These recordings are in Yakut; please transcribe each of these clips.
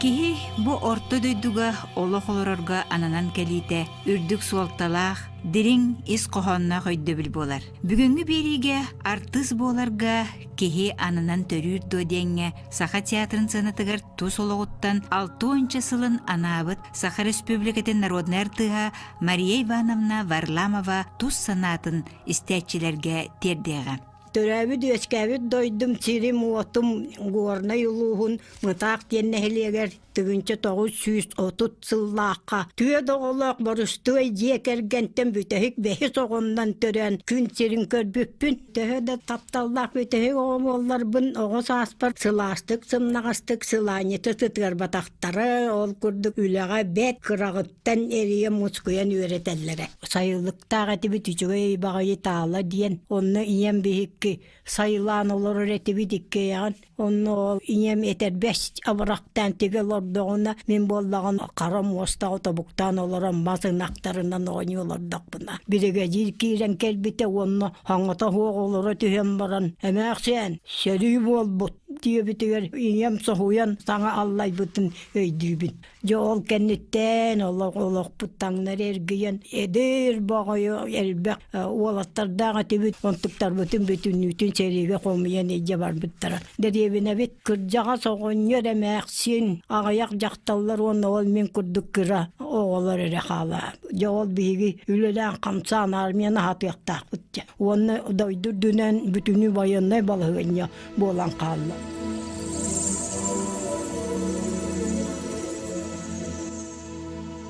Киһи бу орто дойдуга олох олорорго ананан кэлиитэ үрдүк суолталаах, дириҥ ис хоһоонноох өйдөбүл буолар. Бүгүҥҥү биэриигэ артыыс буоларга киһи ананан төрүүр дуо диэҥҥэ Саха театрын сыанатыгар тус олоҕуттан алтыонча сылын анаабыт Саха Республикатын народнай артыыһа Мария Ивановна Варламова тус санаатын истээччилэргэ тиэрдиэҕэ. Төрөөбүт үөскээбит дойдум, сирим-уотум Горнай улууһун Мытаах диэн нэһилиэгэр тыгынча тоҕус сүүс отут сыллаахха түөрт оҕолоох Борустуой дьиэ кэргэнтэн бүтэһик бэһис оҕомнон төрөөн күн сирин көрбүппүн. Төһө да тапталлаах бүтэһик оҕо буолларбын, оҕо сааспар сылаастык, сымнаҕастык сылаанньыта сытыарбатахтара, ол курдук үлэҕэ бэрт кыраҕыттан эрийэ мускуйан үөрэтэллэрэ. Сайылык таах этибит үчүгэй баҕайы таала диэн онно ийэм биһикки сайылаан олорор этибит иккиэйэҕин онно ол ийэм этэрбэс абырахтаан тигэ олордоҕуна мин буоллаҕын хара муостаҕа тобуктаан олорон мас ынахтарынан оонньуу олордохпуна биригэдьиир киирэн кэлбитэ уонна хаҥата суох олоро түһэн баран эмээхсиэн сөрүү буолбут диэбитигэр ийэм соһуйан саҥа аллайбытын өйдүүбүн Дьэ ол кэнниттэн олохпут таҥнар эргийэн эдэр боҕойу элбэх уолаттардаах этибит онтуктарбытын бүтүннүүтүн сэриигэ хомуйан илдьэ барбыттара. Дэриэбинэбит кырдьаҕас оҕонньор эмээхсин аҕыйах дьахталлар уонна ол мин курдук кыра оҕолор эрэ хаалаа. Дьэ ол биһиги үлэлээн хамсаан армияны аһатыахтаахпыт. Уонна дойду үрдүнэн бүтүнүү байыаннай балаһыанньа буолан хаалла.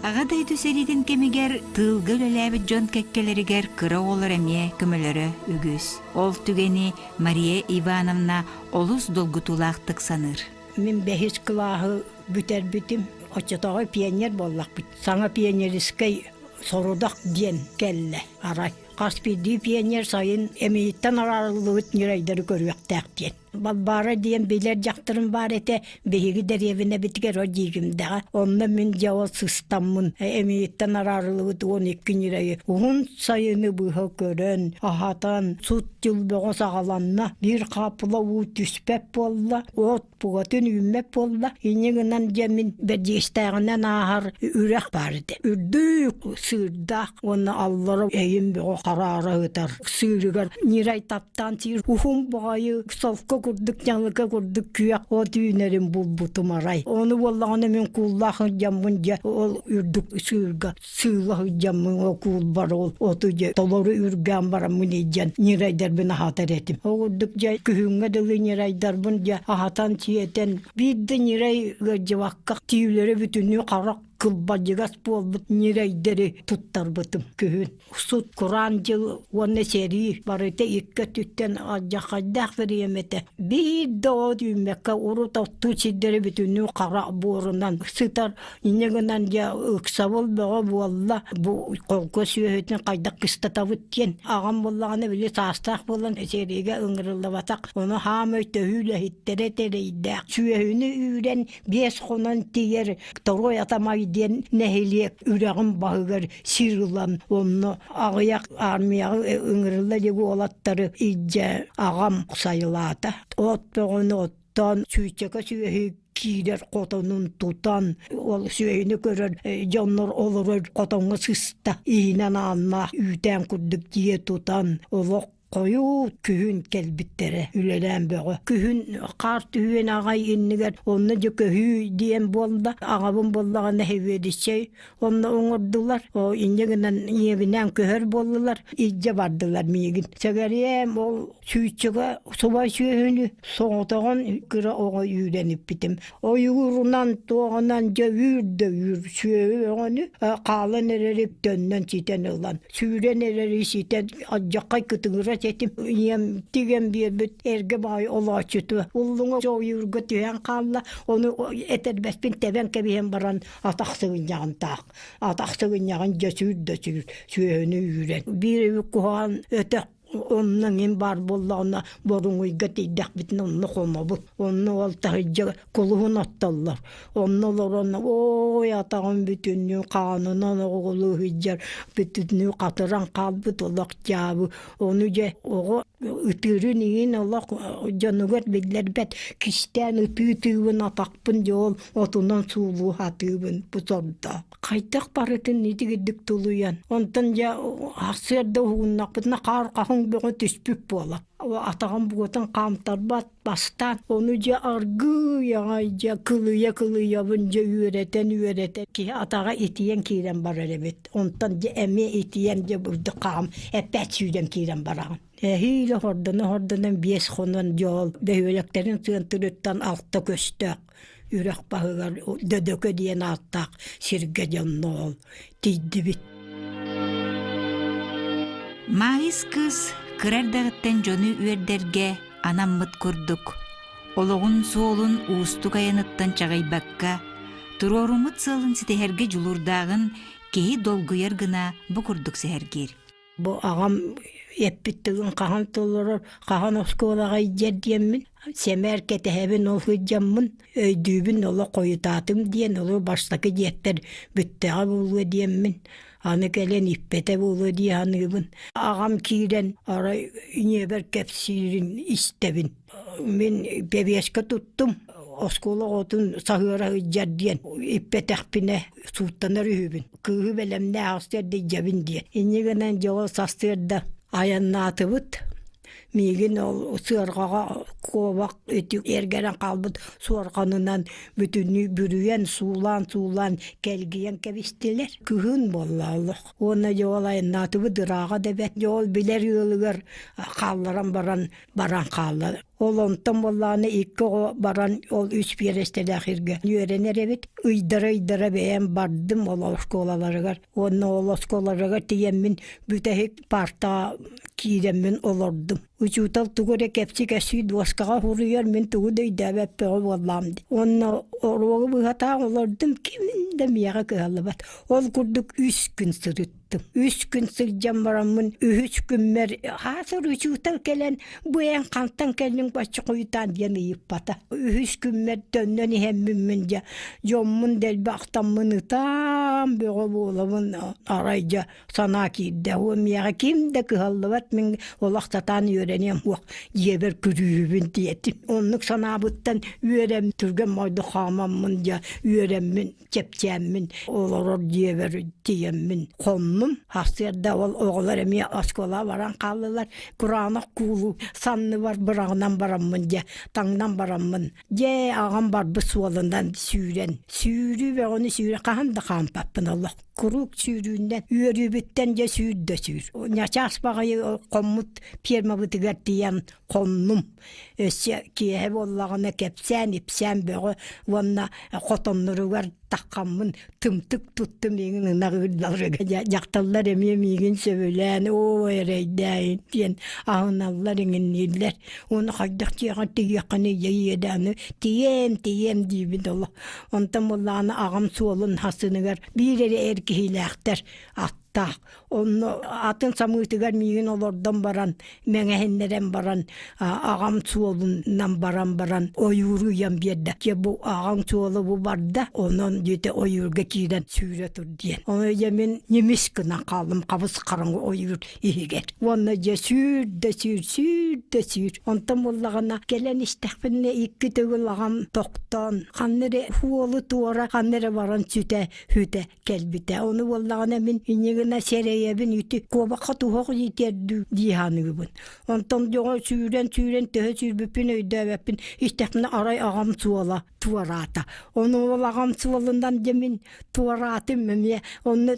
Аҕа дойду сэриитин кэмигэр тыылга үлэлээбит дьон кэккэлэригэр кыра оҕолор эмиэ көмөлөрө үгүс. Ол түгэни Мария Ивановна олус долгутуулаахтык саныыр. Мин бэһис кылааһы бүтэрбитим. Оччотооҕу пионер буоллахпыт. Саҥа пионерискай сорудах диэн кэллэ арай. Хас биирдии пионер сайын эмиийиттэн араарыллыбыт ньүрэйдэри көрүөхтээх диэн. Балбаара диэн билэр дьахтарым баар этэ, биһиги дэриэбинэбитигэр ол дьиигимдэҕэ. Онно мин дьэ ол сыстаммын эмиийиттэн араарыллыбыт уон икки ньүрэйи уһун сайыны быһа көрөн, аһатан, сут дьыл бөҕө саҕаланна. Биир хаапыла уу түспэт буолла. От Бугатын үүммэт буолла, иньи гынан дьэмин бэрдиэстээҕинэн ааһар үрэх баар этэ. Үрдүк сыырдаах уонна аллара эйин бөҕө хараара ытар сыырыгар нирай таптаан сиир уһун баҕайы солко курдук ньалыка курдук күөх от үүнэрин булбутум арай. Ону буоллаҕына мин кууллаах дьаммын дьэ ол үрдүк сыырга сыыла сылдьаммын окуулбар оту дьэ толору үргээн бараммын иддьэн ньирайдарбын аһатар этим оҕурдук дьэ күһүҥҥэ дылы ньирайдарбын дьэ аһатан сиэтэн биирдэ ньирай ыалдьыбакка тиилэрэ бүтүнүү харах кылбадьыгас буолбут ньирайдэри туттарбытым күһүн сут кураан дьыл уонна сэрии барыта икки өттүттэн алдьархайдаах фэриэмэтэ биир да от үүммэккэ урут оттуу сирдэри бүтүнүү хара буорунан сытар Иннэ гынан дьэ ыксабыл бөҕө буолла бу холко сүөһүтүн хайдах кыстатабыт диэн аҕам буллаҕына били саастаах буолан сериге ыҥырыллыбатах ону хаамай төһүү үлэһиттэрэ тэрийдээх сүөһүнү үүрэн биэс хонон тиийэр Торой Атамай диэн нэһилиэк үрэҕин баһыгар сир ылан онно аҕыйах армияҕа ыҥырылла диги уолаттары илдьэ аҕам сайылаата от бөҕөнү тан сүүччэкэ сүөһү киирэр хотонун тутан ол сүөһүнү көрөр дьоннор олорор хотоҥҥо сыста иһинэн аанна үүтээн курдук дьиэ тутан олох хойуу күһүн кэлбиттэрэ үлэлээн бөҕө күһүн хаар түһүөн аҕай иннигэр онно дьэ көһүү диэн буолла аҕабын буллаҕа нэһилиэдичэй Онно оҥордулар. О инде гынан ийэбинээн көһөр боллулар. Ижде бардылар миигин. Сәгәрием ол сүүтчүгэ субай сүөһүнү соңотоҕон кыра оҕо үүрэниппитим. Ойуурунан тоҕынан дьэ үүр да үүр сүөһү өҕөнү хаалан эрэри төннөн ситэн ылан. Сүүрэн эрэри ситэн адьаққай кытыгыра сетим. Ийэм тигэн биэрбит эрге баай олооччуту. Уллуҥа жоойуурга түһэн хаалла. Оны этербэспин тэбэн кэбиһэн баран атах сыгынньаҕынтаах атах сыгынньаҕын дьөсүүр дьөсүүр сүөһүнү үүрэн биир үбүк куһаҕан өтөх онно мин баар буоллаҕына боруҥуйга тиийдэхпитинэ онно хомобут онно ол таһыдьа кулуһун оттоллор онно олорон ой атаҕым бүтүннүү хаанынан оҕугулу ыһыдьар бүтүннүү хатыран хаалбыт олох дьаабы ону дьэ оҕо ытыырын иин олох дьонугар биллэрбэт кистээн ытыы тыыбын атахпын дьэ ол отунан суулуу сатыыбын бутордоох хайдах барытын итигирдик тулуйан онтон дьэ ахсыарда уһугуннахпытына хаар хаһыҥ бөҕө түспүт буола атаҕым буотан хаамтарбат бастаан ону дьэ аргыый аҕай дьэ кылыйа кылыйабын дьэ үөрэтэн үөрэтэн ки атаҕа итийэн киирэн барар эбит онтон дьэ эмиэ итийэн дьэ бурдук хаам эппэт сүүрэн киирэн бараҕын эһиилэ хордоно хордонон биэс хонон дьоол бөһүөлэктэрин тыантырыттан алта көстөөх үрэх баһыгар Дөдөкө диэн ааттаах сиргэ дьонноол тиийдибит. Маайыс кыыс кыра эрдэҕиттэн дьону үөрдэргэ анаммыт курдук, олоҕун суолун уустук айаныттан чаҕыйбакка, туруоруммут сыалын ситиһэргэ дьулуурдааҕын киһи долгуйар гына бу курдук сэһэргиир. Бу аҕам эппит тылын хаһан толорор, хаһан оскуолаҕа илдьэр диэммин, сэмээр кэтэһэбин ол сылдьаммын, өйдүүбүн олох хойутаатым диэн, олору бастакы дьиэттэр бүттэҕэ буолуо диэммин, аны кэлэн ииппэтэ буолуо дии саныыбын. Аҕам киирэн арай ньиэбэр кэпсиирин истэбин. Мин бэбиэскэ туттум, оскуола оҕотун саһыара сылдьар диэн иппэтэхпинэ сууттанар үһүбүн. Кыыһы бэлэмнээх астыар дьэбин диэн. Инньэ гынан дьоҕо састыырда айаннаатыбыт. Миигин ол сыарҕаҕа куобах ити эргэрэн хаалбыт суорҕанынан бүтүннүү бүрүйэн, суулаан-суулаан, кэлгийэн кэбистилэр. Кыһын буолла олох. Уонна дьоҕул айаннаатыбыт ырааҕа да бэрт. Дьоҕул билэр ыалыгар хаалларан баран баран хаалла. Ол онтон буоллааны икки оҕо баран ол үс биэрэстэлээх иргэ үөрэнэр эбит. Ыйдара-ыйдара бэйэм бардым ол оскуолаларыгар. Уонна ол оскуолаларыгар тиийэммин бүтэһик партаҕа киирэммин олордум. Учуутал тугу эрэ кэпсикэсии дуоскаҕа хуруйар мин тугу да өйдөөбөппөҕө буоллаам дии. Уонна оруогу быһатаан олордум ким да миэхэ кыһаллыбат. Ол курдук үс күн сырыт Үс күн сылдьан бараммын, үһүс күммэр хаасыр учуутал кэлэн, бу эн хантан кэллиҥ бачча хойутаан диэн ыйыппата. Үһүс күммэр төннөн иһэммиммин дьэ, дьоммун дэлби ахтаммын ытаан бөҕө буолабын арай дьэ санаа киирдэ. Уо миэхэ ким да кыһаллыбат мин олох сатаан үөрэниэм уох дьиэбэр күрүүрүбүн диэтим. Оннук санаабыттан үөрэм түргэн мойду хаамаммын дьэ үөрэммин чэпчээммин олорор дьиэбэр тиийэммин хоннум арсыарда ол оҕолор эмиэ оскуола баран хааллылар кураанах куулу санныбар быраҕынан бараммын дьэ таҥнан бараммын дьэ аҕам барбыт суолунан сүүрэн сүүрүү бөҕөнү сүүрэ хаһан да хаампаппын олох куруук сүүрүүннэн үөрүүбүттэн дьэ сүүр да сүүр ньачаас баҕайы хоммут пиэрмабытыгар тиийэн хоннум Өссө киэһэ буоллаҕына кэпсээн, ипсээн бөҕө уонна хотонноругар таххаммын тымтык туттум миигин ынах ыырдаларга дьахталлар эмиэ миигин сөбүлээн оо эрэйдээйин диэн аһыналлар иҥиннииллэр уонна хайдах тиэхэ тиийэххиний иэдэ аны тииэм тииэм диибин олох онтон буллаҕына аҕам суолун хасыныгар биир эрэ эр киһилээхтэр таах онно атын самыытыгар миигин олордон баран мэҥэһиннэрэн баран аҕам суолунан баран баран ойууру ыйан биэрдэ дьэ бу аҕаҥ суолу бу барда онон дьиэтэ ойуурга киирэн сүүрэ тур диэн ону дьэ мин ньимис гынан хааллым хабыс хараҥы ойуур иһигэр уонна дьэ сүүр да сүүр сүүр да сүүр онтон буллаҕына кэлэн истэхпинэ икки төгүл аҕам тохтоон ханна эрэ уолу туора ханна эрэ баран сүтэ хүтэ кэлбитэ ону буоллаҕына мин иннигина сэрэйэбин ити куобахха туһах дитердүү дии саныыбын онтон дьоҕо сүүрэн сүүрэн төһө сүүрбүппүн өйдөөбөппүн истэхпинэ арай аҕам суола туораата ону ол аҕам суолунан дьэ мин туораатым эмиэ онно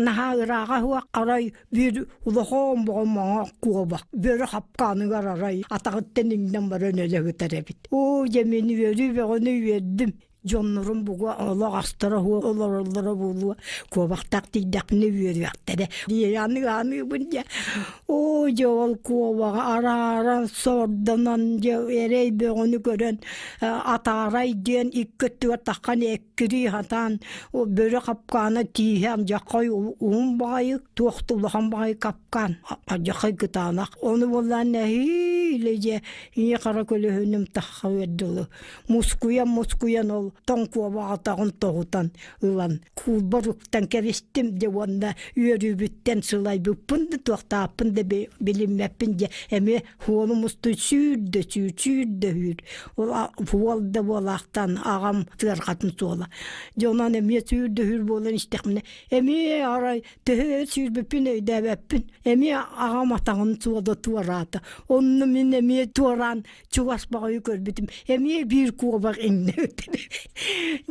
наһаа ырааҕа суох арай биир улахан боҕо маҥа куобах бөрө хапкааныгар арай атаҕыттан иҥнэн баран өлө сытар эбит оо дьэ мин үөрүү бөҕөнү үөрдүм дьоннорум бугуа олох астара хуо олороллоро буолуо куобахтак тигдэхпинэ үөрүөхтэрэ диэри аныгы аныыбын дьэ оо дьэ ол куобаҕа арааран сордонон дьэ эрэй бөҕөнү көрөн атаарай диэн икки өттүгэр таххан эккирии хатаан бөрө хапкаана тииһэм дьаххай уһун баҕайы туох тулахан баҕайы капкаан дьаххай кытаанах ону буоллаан нэһиилэ дьэ ии хара көлөһүнүм тахха үөрдүлу мускуйан-мускуйан ол тоҥкуобаҕатаҕын тоһутан ылан куулбар уктан кэбистим дьэ уонна үөрүүбүттэн сылайбыппын да туохтаахпын да билиммэппин дьэ эмиэ уолум устуй сүүрдэ сүүр сүүрдэ сүүр уол да буолаахтаан аҕам тыарҕатын суола дьэ онон эмиэ сүүрдэ сүүр буолан истэхпинэ эмиэ арай төһө сүүрбүппүн өйдөөбөппүн эмиэ аҕам атаҕын суола туораата онно мин эмиэ туораан чугас баҕайы көрбүтүм эмиэ биир куобах иҥнэбитин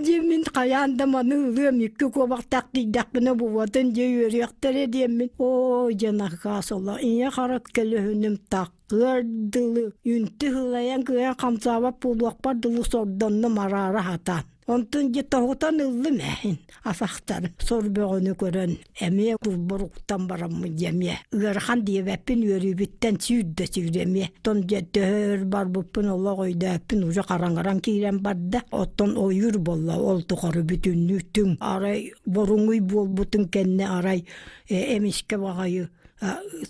диэн мин хайаан да маны ылыам икки куобахтаах тиийдэхпинэ бубатын дьэ үөрүөхтэрэ диэммин оо дьэн акаас оло ийэ харат көлөһүнүм таккыар дылы үнтү ылайан кыйан хамсаабат буолуохпар дылы сордоннум араара хатаан Онтун дьэ тоһутан ыллым эһин асахтар сор бөҕөнү көрөн эмиэ кулбуруктан бараммын дьэмиэ ыарахан диэбэппин үөрүүбүттэн сүүрдэ сүүрэмиэ оттон дьэ төһөр барбыппын олох өйдөөппүн уже хараҥаран киирэн барда оттон ойуур болла ол тухары бүтүннүү түҥ арай боруҥуй буолбутун кэннэ арай эмискэ баҕайы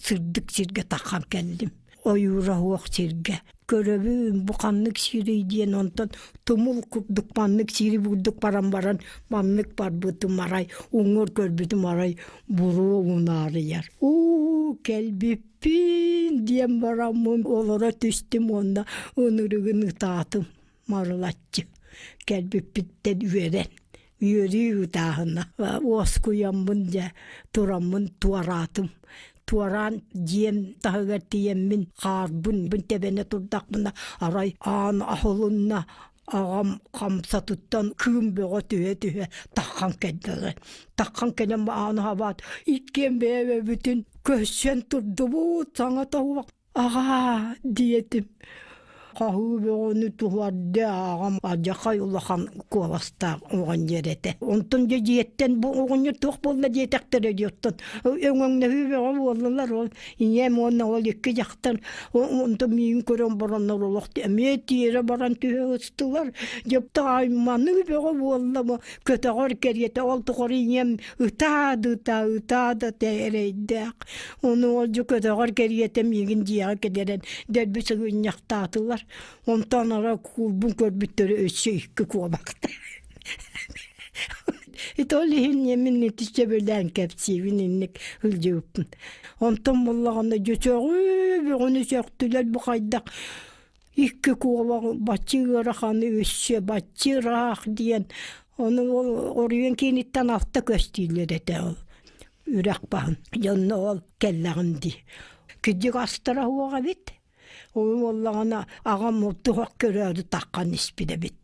сырдык сиргэ таххан кэллим ойуура суох сиргэ көрөбүн бу ханнык сирий диэн онтон тумул курдук маннык сири бурдук баран баран маннык барбытым арай уҥуор көрбүтүм арай буруу унаарыйар уу кэлбиппин диэн бараммын олоро түстүм уонна ынырыгын ытаатым Марылаччы кэлбиппиттэн үөрэн үөрүү ыытааһына уоскуйаммын дьэ тураммын туораатым туораан дьиэм таһыгар тиийэммин хаарбын тэбэнэ турдахпына арай аан аһылынна аҕам хамсатыттан кыым бөҕө түһэ түһэ таххан кэллэ таххан кэлэн ааны хабаат иккиэн бэйэ-бэйэбитин көрсөн турдубут саҥа тоһук Аҕаа, диэтим, хаһыы бөҕөнү туһуардыы ааҕам, алдьархай улахан куоластаах оҕон диэр этэ. Онтон дьэ дьиэттэн бу оҕонньор туох буолла диэтэхтэрэ диye, оттон өҥөҥнөһүү бөҕө буоллулар, ол ийэм уонна ол икки дьахтар онтон миигин көрөн бараннар олох эмиэ тиэрэ баран түһэ ыстылар. Дьэ маннык бөҕө буолла бу көтөҕөр кэриэтэ ол тухары ийэм ытаадыта ытаада эрэйдээх ону олдьу көтөҕөр кэриэтэ миигин дьиэҕэ кэтэрэн дэлби сыгынньахтаатылар онтон ара куурбун көрбүттэрэ өссө икки куобахта ити ол иһин мин ити сөбүлээн кэпсиибин инник сылдьыбыппын онтон буллаҕына дьөчөҕү бөҕөнү сөхтүлэр бу хайдах Икки куобаҕы бачча ыараханы өссө бачча ыраах диэн ону оройуон кииниттэн алта көстүүлэр этэ үрэх баһын дьонно ол кэллэҕим дии кырдьык астара суох эбит ол буоллаҕына аҕам мурдук көрөөрү таххан испит эбит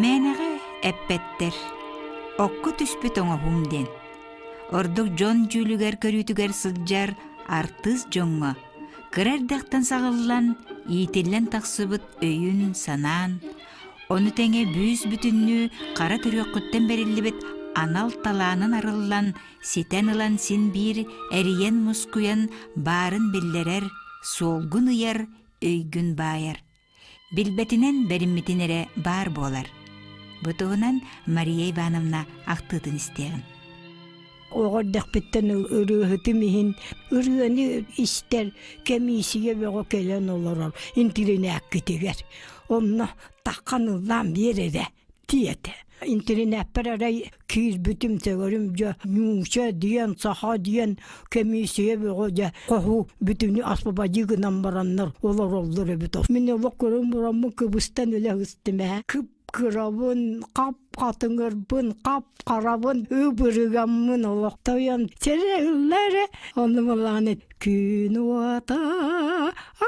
Мээнэҕэ эппэттэр «Окко түспүт оҥоһум» диэн. Ордук дьон дьүүлүгэр көрүүтүгэр сылдьар артыыс дьоҥҥо кыра эрдэхтэн саҕыллан, иитиллэн тахсыбыт өйүн-санаан, ону тэҥэ бүүс-бүтүннүү хара төрүөххүттэн бэриллибит анал талаанын арыллан, ситэн ылан син биир эрийэн-мускуйан баарын биллэрэр, суолгун ыйар, өйгүн баайар. Билбэтинэн бэриммитин эрэ баар буолар. Бу туһунан Мария Ивановна ахтыытын истэҕин. Оҕордохпуттан ырыаһытым иһин ырыаны истэр кэмиисийэ бөҕө кэлэн олорор интиринээккитигэр. Онно таххан ыллаан биэрэрэ. Тиэт, интелинээппэр эрэй киирбитим, төгөрүм дьэ нууча диэн, саха диэн кэмиисийэ бөҕө дьэ хоһу бүтүнү аспабадьыы гынан бараннар олороллор эбит. Мин олох көрөн бураммын кыбыстан үлэ гыстым ээ. Кып кырабын, хап хатыҥырбын, хап харабын, ыбырыгаммын олох тойон сэрэ ыллары, ону балааны Күн уота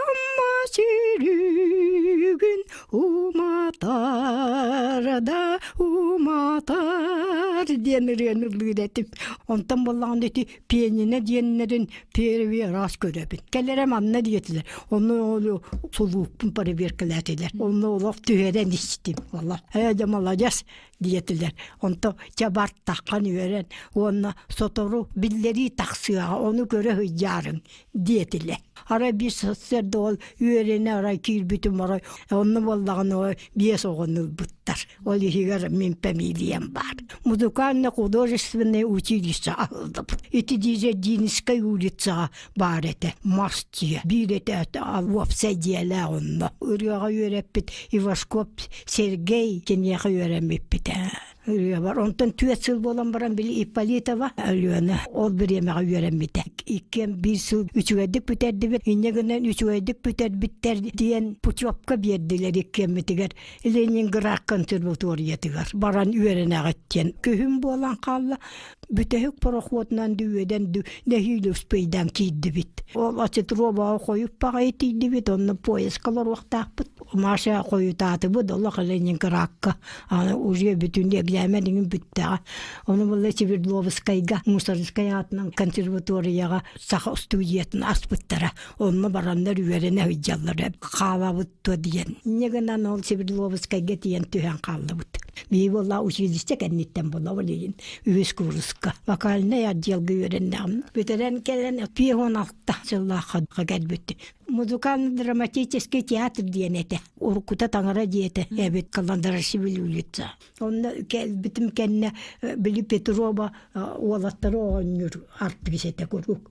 Амма силүгүн уматар да уматар диэн ырыаны былыр этим. Онтон боллаҕына ити пианино диэннэрин первый раз көрөбүн. Кэлэрэ манна диэтилэр. Онно сулууппун проверкалаатилар. Онно олох түһэрэн истим. Олох, ээ дьэ, молодец, диэтилэр. Онто чабартаххан үөрэн уонна сотору биллэрии тахсыаҕа, ону көрө сыдьаарыҥ диэтилэр. Арай биир сарсыарда ол үөрэнэ арай киирбитим арай онно буоллаҕына ол биэс оҕону ылбыттар. Ол иһигэр мин фамилиям баар. Музыкальный-художественное училище аһыллыбыт. Ити Дизельдинскай улицаҕа баар этэ мас дьиэ биир этээт уопсай дьиэлээх онно ырыаҕа үөрэппит ивашкоп сергей киниэхэ үөрэммиппит ырыабар онтон түөрт сыл буолан баран били ипполитова өлүөнэ ол бириэмэҕэ үөрэммитэ иккиэн биир сыл үчүгэйдик бүтэрдибит инньэ гынан үчүгэйдик бүтэрбиттэр диэн путевка биэрдилэр иккиэммитигэр ленинград консерваториятыгар баран үөрэнэҕит диэн күһүн буолан хаалла Бүтэһик пароходунан дүйүөдэн ду нэһиилэ успейдан киирдибит. Ол ацетробаҕа хойуп паҕайы тиийдибит, онно поискалар уохтаахпыт. Маша хойутаатыбыт, олох Ленинградка. Аны уже бүтүн экзамен иҥин бүттэҕэ. Ону булла Свердловскайга мусорскай аатынан консерваторияҕа саха студиятын аспыттара. Онно бараннар үөрэнэ сылдьаллара. Хаалабыт туо диэн. Негынан ол Свердловскайга тиийэн түһэн хааллыбыт. Бии буолла училище кэнниттэн була билейин үһүс курска. Вокальный отделга үөрэннэм. Бүтэрэн кэлэн пион алта жыллаахха кэлбит. Музыкально-драматический театр диэн этэ. Урукута таҥара диэтэ эбит Каландарашвили улица. Онно битим кэннэ били Петрова уолаттары оонньуур артыыс этэ куруук.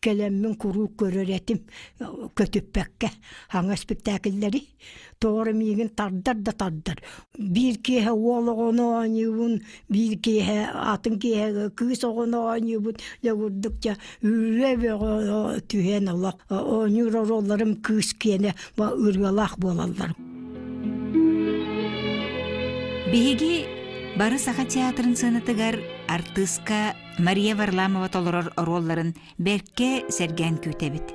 кэлэммин куруук көрөр этим көтүппэккэ хаҥа испиктээкиллэри тоҕо миигин тардар да тардар биир киэһэ уол оҕону оонньуубун биир киэһэ атын киэһэ кыыс оҕону оонньуубут дьэ курдук дьэ үрүө бөҕө түһэн ола оонньуур оруолларым кыыс киэнэ ырыалаах буолаллар биһиги бары саха театрын сыанатыгар артыыска Мария Варламова толорор оруолларын бэркэ сэргээн күүтэбит.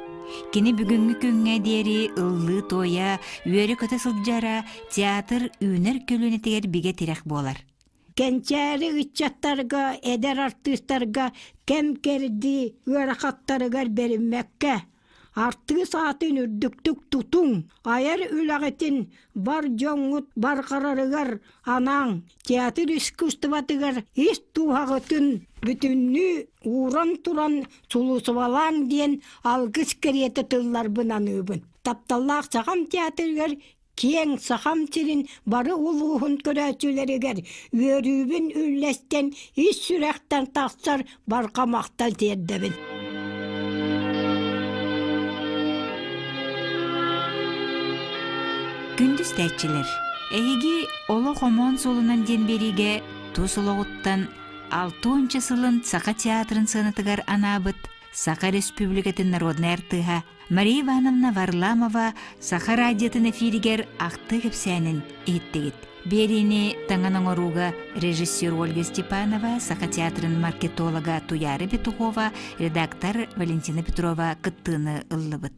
Кини бүгүҥҥү күҥҥэ диэри ыллыы туойа, үөрэ-көтө сылдьара театр үүнэр көлүөнэтигэр бигэ тирэх буолар. Кэнчээри ыччаттарга, эдэр артыыстарга кэм кэрдии ыарахаттарыгар бэриммэккэ, Артыыс аатын үрдүктүк тутуҥ, айар үлэҕитин бар дьоҥҥут барҕарарыгар анаан театр искусствотыгар ис дууһаҕытын бүтүннүү ууран туран сулусубалааҥ диэн алгыс кэриэтэ тылларбын аныыбын. Тапталлаах Саҕам театрыгар Киэҥ Сахам сирин бары улууһун көрөөччүлэригэр үөрүүбүн үллэстэн ис сүрэхтэн тахсар барҕа махтал тиэрдэбин. Күндүс тээччилэр, эһиги олох омоон суолунан диэн бириигэ тус олоҕуттан алтыонча сылын Саха театрын сыанатыгар анаабыт Саха Республикатын народнай артыыһа Мария Ивановна Варламова Саха радиотын эфиригэр ахтыы кэпсээнин иһиттигит. Биэриини таҥан оҥорууга режиссер Ольга Степанова, Саха театрын маркетолога Туяра Петухова, редактор Валентина Петрова кыттыыны ыллыбыт.